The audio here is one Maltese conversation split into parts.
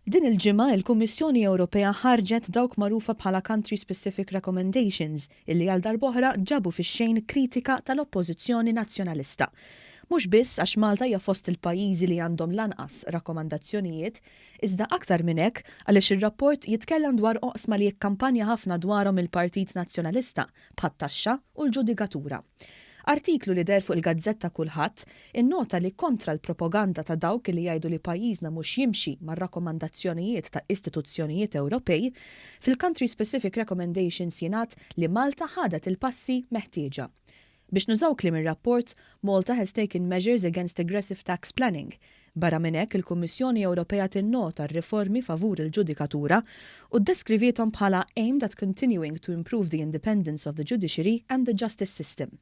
Din il-ġimgħa il-Kummissjoni Ewropea ħarġet dawk magħrufa bħala country specific recommendations illi għal darb'oħra ġabu fix-xejn kritika tal-Oppożizzjoni Nazzjonalista. Mhux biss għax Malta hija fost il-pajjiżi li għandhom l-anqas rakkomandazzjonijiet, iżda aktar minn hekk għaliex ir-rapport jitkellem dwar oqsma li kkampanja ħafna dwarhom il-Partit Nazzjonalista bħat-taxxa u l-ġudikatura. Artiklu li deher fuq il-gazzetta Kulħadd innota li kontra l-propoganda ta' dawk li jgħidu li pajjiżna mhux jimxi mar-rakkomandazzjonijiet ta' istituzzjonijiet Ewropej, fil-Country Specific Recommendations jingħad li Malta ħadet il-passi meħtieġa. Biex nużaw kliem ir-rapport, Malta has taken measures against aggressive tax planning, Barra minn hekk, il-Kummissjoni Ewropea tinnota r-riformi favur il-ġudikatura u ddeskriviethom bħala aimed at continuing to improve the independence of the judiciary and the justice system.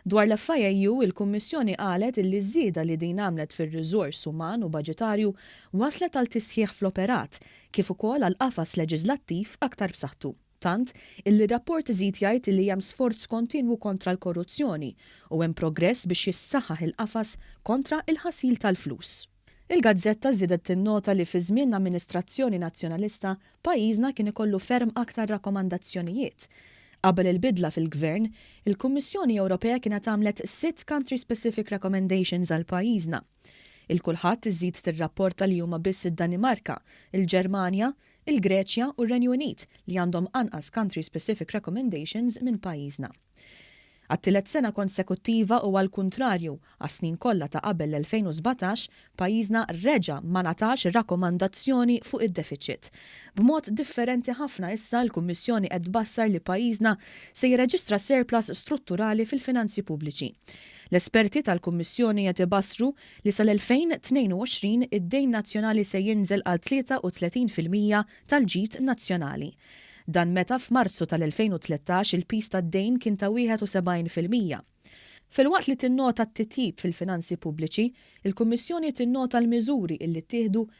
Dwar l-FIAU, il-Kummissjoni qalet illi ż-żieda li din għamlet fir-riżors uman u baġitarju wasslet għal tisħiħ fl-operat, kif ukoll għal qafas leġiżlattiv aktar b'saħħtu. tant illi r-rapport iżid jgħid illi hemm sforz kontinwu kontra l-korruzzjoni u hemm progress biex jissaħħaħ il-qafas kontra il-ħasil tal-flus. Il-gazzetta żiedet tinnota li fi żmien amministrazzjoni Nazzjonalista pajjiżna kien ikollu ferm aktar rakkomandazzjonijiet. Qabel il-bidla fil-Gvern, il-Kummissjoni Ewropea kienet għamlet sitt country-specific recommendations għal pajjiżna. Il-kulħadd iżżid tirrapporta li huma biss id-Danimarka, il-Ġermanja, il-Greċja u r-Renju Unit li għandhom anqas country specific recommendations minn pajjiżna. Għat-tielet sena konsekuttiva u għall-kuntrarju għas-snin kollha ta' qabel l-2017, pajjiżna reġa' ma ngħatax rakkomandazzjoni fuq id-defiċit. B'mod differenti ħafna issa l-Kummissjoni qed tbassar li pajjiżna se jirreġistra surplus strutturali fil-finanzi pubbliċi. L-esperti tal-Kummissjoni qed ibassru li sal-2022 id-dejn nazzjonali se jinżel għal 33 fil-mija tal-ġid nazzjonali. Dan meta f'Marzu tal-2013 il-piż tad-dejn kien ta' 71 fil-mija. Filwaqt li tinnota t-titjib fil-finanzi pubbliċi, il-Kummissjoni tinnota l-miżuri illi ttieħdu